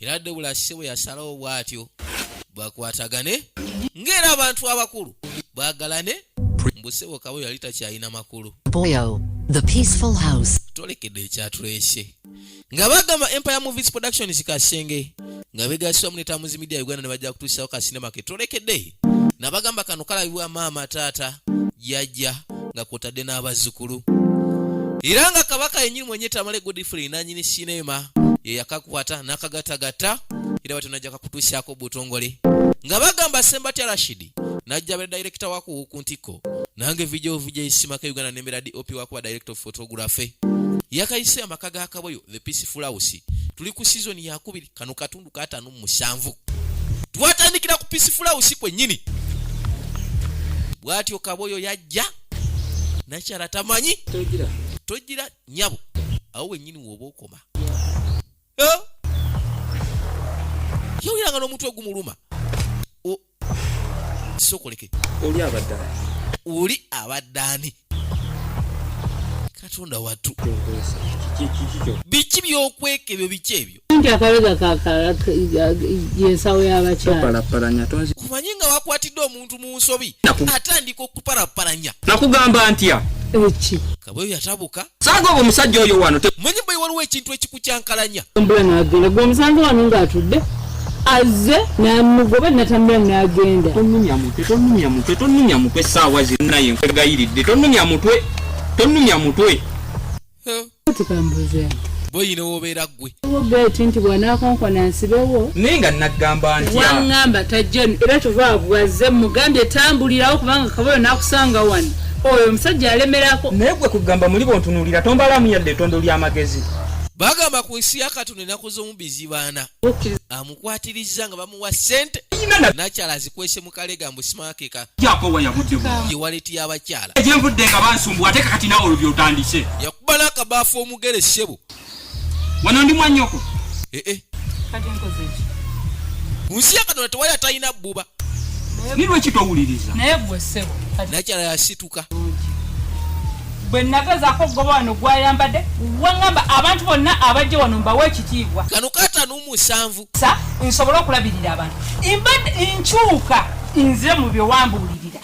era debula si bwe yasalawo bw'atyo bakwatagane ng'era abantu abakulu bwagalane mbu sebo kabo yali takyalina makulu tolekedde ekyatulese nga bagamba empire movies productions kasenge nga begasibwa munetamuzi media uganda ne bajja kutuusawo kasinema ke tolekedde nabagamba kano kalabibwa maama taata jajja nga kwotadde n'abazzukulu era nga kabaka yenyini mwenye tamale godfrey nanyini sinema yeyakakwata nakagatagatta era batyo najja kakutuusaako butongole nga bagamba sembatya rashidi najja bera direkita waku ku ntikko nange vidio vija esimaka uganda nemera dop wakuba direkita of photography yakayise amaka ga kaboyo the peaceful house tuli ku sizoni yakubiri kano katundu katano musanvu twatandikira ku pisifulawusi kwennyini bwatyo kaboyo yajja nakyala tamanyi togira nyabo awo wennyini woba okoma yawuliranga n'omutwe gumuluma sokoleke oli abadde oli abadde ani katonda watu biki byokweka ebyo biki ebyo nti akabega kayensawo yabakyalakumanyi nga wakwatidde omuntu mu nsobi atandika okupalapalanya nakugamba ntya eki kabweyo yatabuka saaga obwo omusajja oyo wano manyi bwe waliwo ekintu ekikukyankalanya mbula n'agenda gwe omusanze wano ng'atudde azze namugoba natambula nagenda tonumya mutwe tonumya mutwe tonumya mutwe saawa zinaye nkwegayiridde tonumya mutwe tonumya mutwe tikambuze boyina wobeera gwe geti nti bwanakonkona nsibewo naye nga nagamba nti wangamba tajja era tuva bwazze mugambye tambulirawo kubanga kaboyo nakusanga wano oyo omusajja alemerako naye gwe kugamba muli bontunuulira tombalamu yadde etondo ly'amagezi bagamba ku nsi ya katonda enaku z'omubizibaana amukwatirizza nga bamuwa sente nakyala azikwese mu kalega mbu simakeka yewaleti y'abakyala yakuba n'akabaafu omugere ssebo wano ndi mwanyoko eh, eh. kati nkoze ki munsi yakadona tewali atalina bbuba ni lweki towuliriza naye gwe ssebo nakyala yasituka bwe nagezako okugoba wano gwayambadde waŋamba abantu bonna abajja wano mbawa ekitiibwa kano katano musanvu sa nsobole okulabirira abantu mbadde nkyuka nze mu byewambuulirira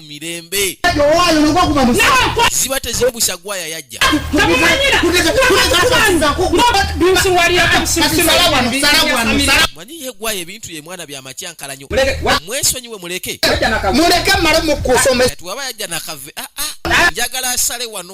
mirembe ziba tezibusa gwaya yajja manyi ye gwaya ebintu ye mwana byamakyankala nyo mwesonyiwe muleke muleke male mukusomesa tuwaba yajja nakave ah, ah. njagala asale wano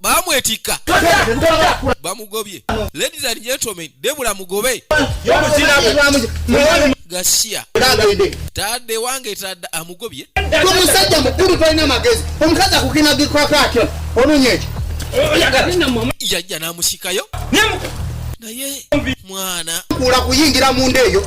bamwetikka bamugobye ladies and gentlemen debula mugobe gasiya tadde wange tadde amugobye omusajja mukulu tolina amagezi omukazi akukinagikako atyo ononya ekyo yajja namusikayo naye mwana kula kuyingira munda eyo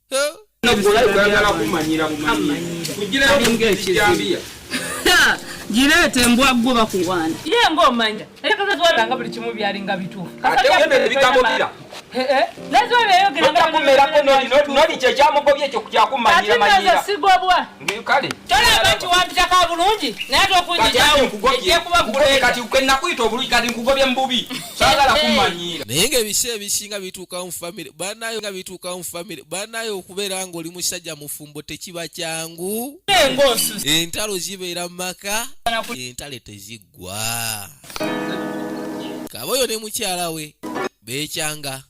gireeta embwa gwo bakuwaana ye ngaomanya era kazaziwabira nga buli kimu byalinga bituufu naye nga ebisa ebisinga bituukamu famire banayo nga okutuuka mu famire banaye okubeera nga oli musajja mufumbo tekiba kyangu entalo zibeera mu maka entale teziggwa kaba oyo ne mukyala we beekyanga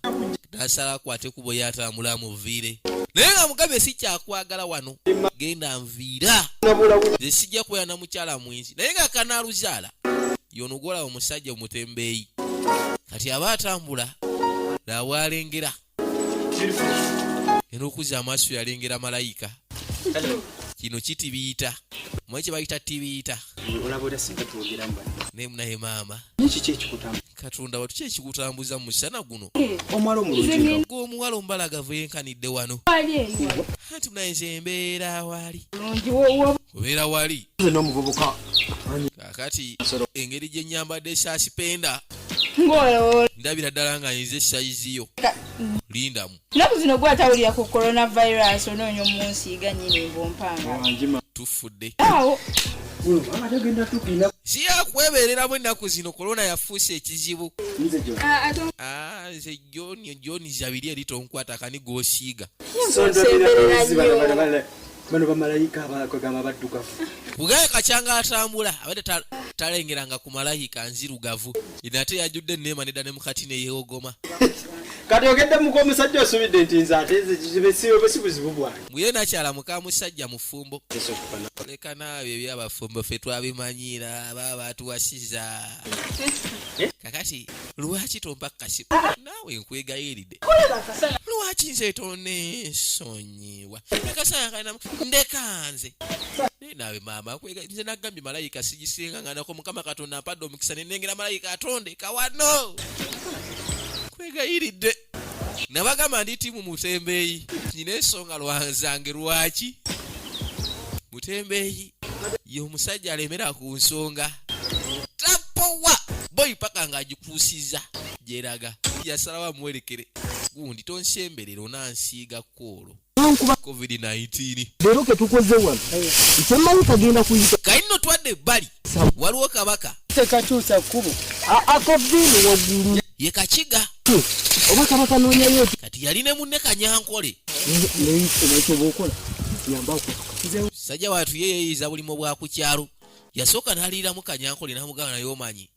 nasala akwate kubo yatambula amuviire naye nga mugabe si kyakwagala wano genda nviira ze sijja kubeera na mukyala mwenzi naye nga kanaaluzaala yonogola omusajja omutembeeyi kati aba atambula lawalengera era okuza amaaso yalengera malayika kino kitibiyita mwe kyebayita tibiyita naye munaye maama katonda watu kyekikutambuza mu musana guno eh, omuwala omubalagavu yenkanidde wano anti munaye nze mbeera wali obeera wali akati engeri gye nyambadde esaasipenda ndabira ddala nga nyize sayizi yo lindamu naku zino gwe atawulira ku coronavirus onoonya omunsiiga nyini mbumpanga tufudde siyakwebereramu ennaku zino kolona yafuusa ekizibu nze joni ah, ah, zabiri eri tonkwata kani gwosiiga bano bamalayika abagamba baddugavu kugaye kakyanga atambula abadde talengera nga ku malayika nzirugavu nate yajudde neema nedda ne mukati neyewogoma kati ogedde muka omusajja osubidde nti nze atesibe buzibu bwange muye nakyala muka musajja mufumbo leka naawe ebyabafumbo fe twabimanyiira aba batuwasiza eh? kakati lwaki tompa kukasibu naawe nkwegayiridde lwaki nze tonesonyi ewa akasaya kana ndekanze naye naawe maama nze nagambye malayika sigisinganganako mukama katonda mpadde omukisa nenengera malayika atonde kawano kwegayiridde nabagamba ndi tiimu mutembeeyi nyina ensonga lwanzange lwaki mutembeeyi ye omusajja alemera ku nsonga tapowa boyi paka ng'agikuusiza gyeraga yasalawo amuwerekere gundi tonsemberera onansiiga kuulu covid-19 leero ketukoze wano nkyemmanyi kagenda kuyita kali no twadde ebbali waliwo kabaka tekakyusa kkubo akaviini waggulu ye kakiga oba kabaka noonyayo kati yali ne munne kanyankole nekyobaokola yambakusajja watu ye yeyiza bulimu bwa ku kyalo yasooka naliiramu kanyankole namugamba naye omanyi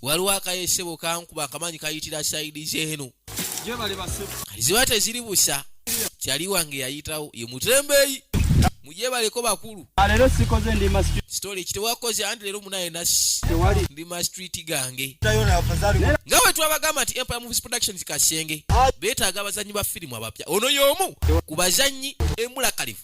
waliwo akayesebo kankuba akamanyi kayitira saidi zeeno ziba teziri busa kyali wange yayitawo ye mutembeyi mujebaleko bakulu alero ah, sikoze ndi ma street story kite wakoze andi lero munaye na tewali ndi ma street gange tayo na afadhali nga wetu abagama ti empire movies productions kasenge ah. beta agabazanyi ba film abapya ono yomu kubazanyi emula kalifu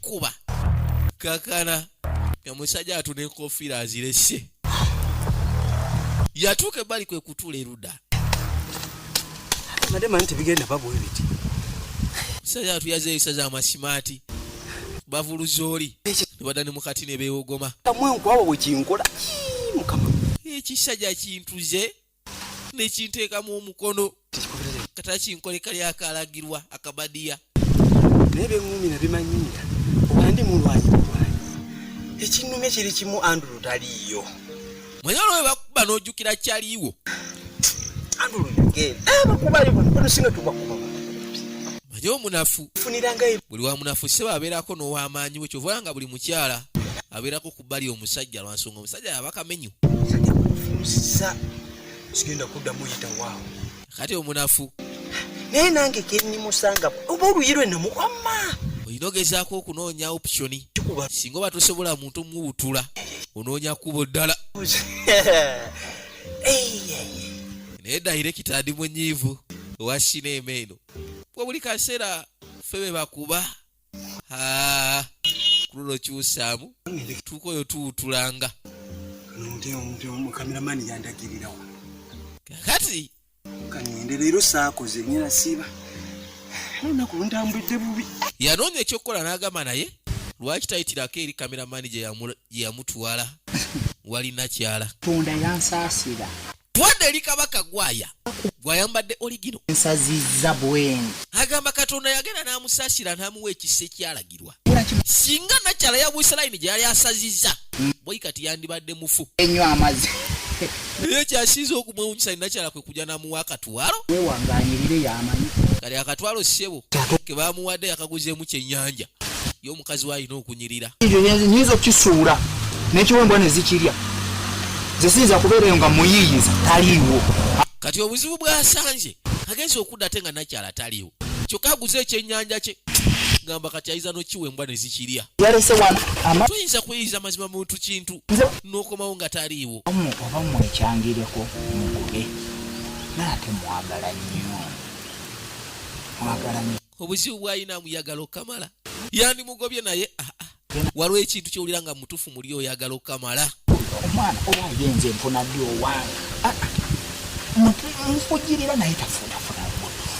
kuba kakana omusajja atu nenkofiira azirese yatuuka ebbali kwe kutula eruda musajja atu yaza ebisa za masimaati bavuluza oli nebada ne mukati nebewogoma ekisajja kintuze nekinteekamu omukono katakinkoleka lyakalagirwa akabadiya naye beŋumira bimanyira obandi mulwanyi mulwanyi ekinume kiri kimu andulu taliiyo mwenye olwo webakuba n'ojjukira kyaliiwo andulu yogenda eh, bakubayo bonosinga tubakuba manye omunafu buli wa munafu sebo abeerako n'owamaanyi we kyova nga buli mukyala abeerako bali omusajja lwansonga omusajja yabakamenyu sigenda kuddamu yita waawo kati omunafu naye nange kenyimusanga oba oluyi lwe namukwama olina ogezaako okunoonya optioni singa oba tosobola muntu omuwutula onoonya kubo ddala naye dayire kitandi munyiivu owa sineema eno wabuli kaseera ffe be bakuba kululo kyusaamu tuuka oyo tuwutulanga kakati kanyende leero saakoze nyina siiba olunaku luntambudde bubi yanoonya ekyokukola n'agamba naye lwaki tayitirako eri kameramani gye yamutwala wali nakyala tonda yansaasira twade eri kabaka gwaya gwayambadde oligino nsazizza bweni agamba katonda yagenda n'amusaasira n'amuwa ekisa ekyalagirwa singa nakyala ya buisiraini gye yali asazizza boi kati yandibadde mufu enyo amazi naye kyasinza okumwewunyisa ninakyala kwe kujja n'amuwa akatwalo wewanganyirire yamanyi kali akatwalo ssebo ke bamuwadde yakaguzeemu kyennyanja mukazi we alina okunyirira nyinza okukisuula nekiwembwa nezikirya zesiyinza kubeera eyo nga muyiiyiza taliiwo kati obuzibu bwasanje agenza okudda ate nga nakyala taliiwo kyokka aguze ekyenyanja kye gamba kati ayiza nokiwa embwa nezikirya tuyinza kuyiiza mazima muntu kintu nokomawo nga taliiwo oba mwekyangireko mugube naate mwagala nnyo mwagala nnyo obuzibu bwalina amuyagala okukamala yandimugobye naye aa ah, ah. waliwo ekintu kyowulira nga mutufu muli oyagala okukamala omwana oba agenze nfuna ddi owange ah, nfujirira naye tafunafuna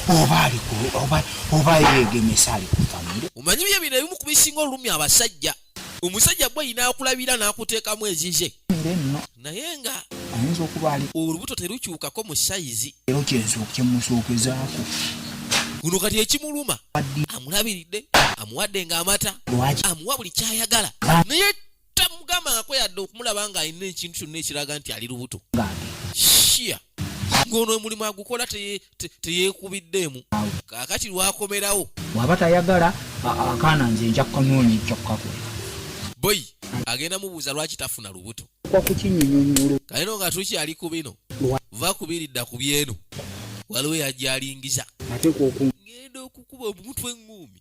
oba alioba yegemesa ali kufamire omanyi bye bino ebimu ku bisinga olulumi abasajja omusajja gwe yinaakulabira n'akuteekamu ezize naye nga ayinza okuba ali olubuto terukyukako mu sayizi ero kyemusookwezaako guno kati ekimuluma amulabiridde amuwadde ng'amata amuwa buli kyayagala naye tamugambangako yadde okumulaba ng'alina ekintu kyonna ekiraga nti ali lubuto shiya ng'ono omulimu agukola teyekubiddeemu kakati lwakomerawo waba tayagala akaana nze nja kukanoonya ekyakukakola boyi agenda mubuuza lwaki tafuna lubuto kalino nga tukyali ku bino va kubiridda ku byeno waliwo yajalingiza ngenda okukuba omutwe eŋŋuumi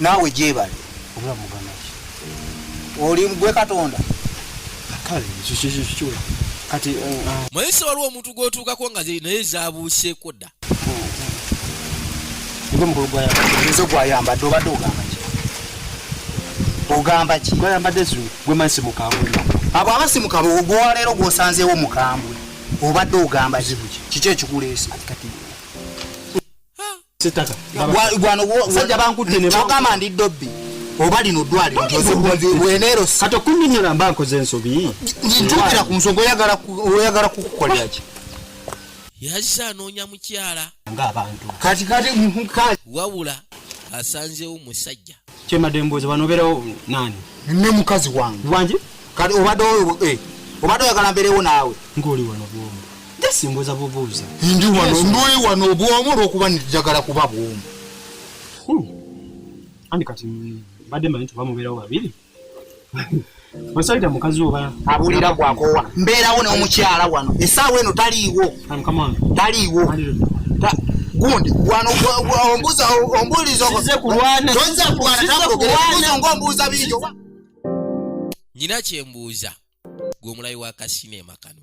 Naawe gyebale obulamu muganda ki oli gwe katonda kale kikikikikula kati eh, ah. mayisa waliwo omuntu gwotuukako nga naye zabuuseeko dda nge omukulu gwayaezo gwayambadde obadde ogamba ki ogamba ki gwayambadde zulu gwe mansi mukambwe abo abasi mukambwe gwewaleero gwosanzeewo mukambwe obadde ogamba zibuki kiki ekikuleese kyogamba ndi dobbi oba lino ddwaliro kati okunyinyona mba nkoze ensobi ntuukira ku nsonga oyagala kukukoleraki yazise anoonya mukyala ngaabantu kati kati wabula asanzewo musajja Kyemade mbuuza wano obeerawo nani? Ne mukazi wange. Wange? Kati obadde eh obadde oyagala mbeerewo naawe? Ng'oli wano bwomu. Just mbuuza bubuuza. Ndi wano ndi wano bwomu olw'okuba njagala kuba bwomu. Hmm. Andi kati mbadde manyi tuba mubeerawo babiri. Osaita mukazi oba abulira kwa kowa mbeerawo ne omukyala wano esaawa eno taliiwo taliiwo gundi wano ombuza ombulizo nze kulwana nze kulwana ngombuza bijo nyina kyembuuza gwe omulayi wa kasinema kano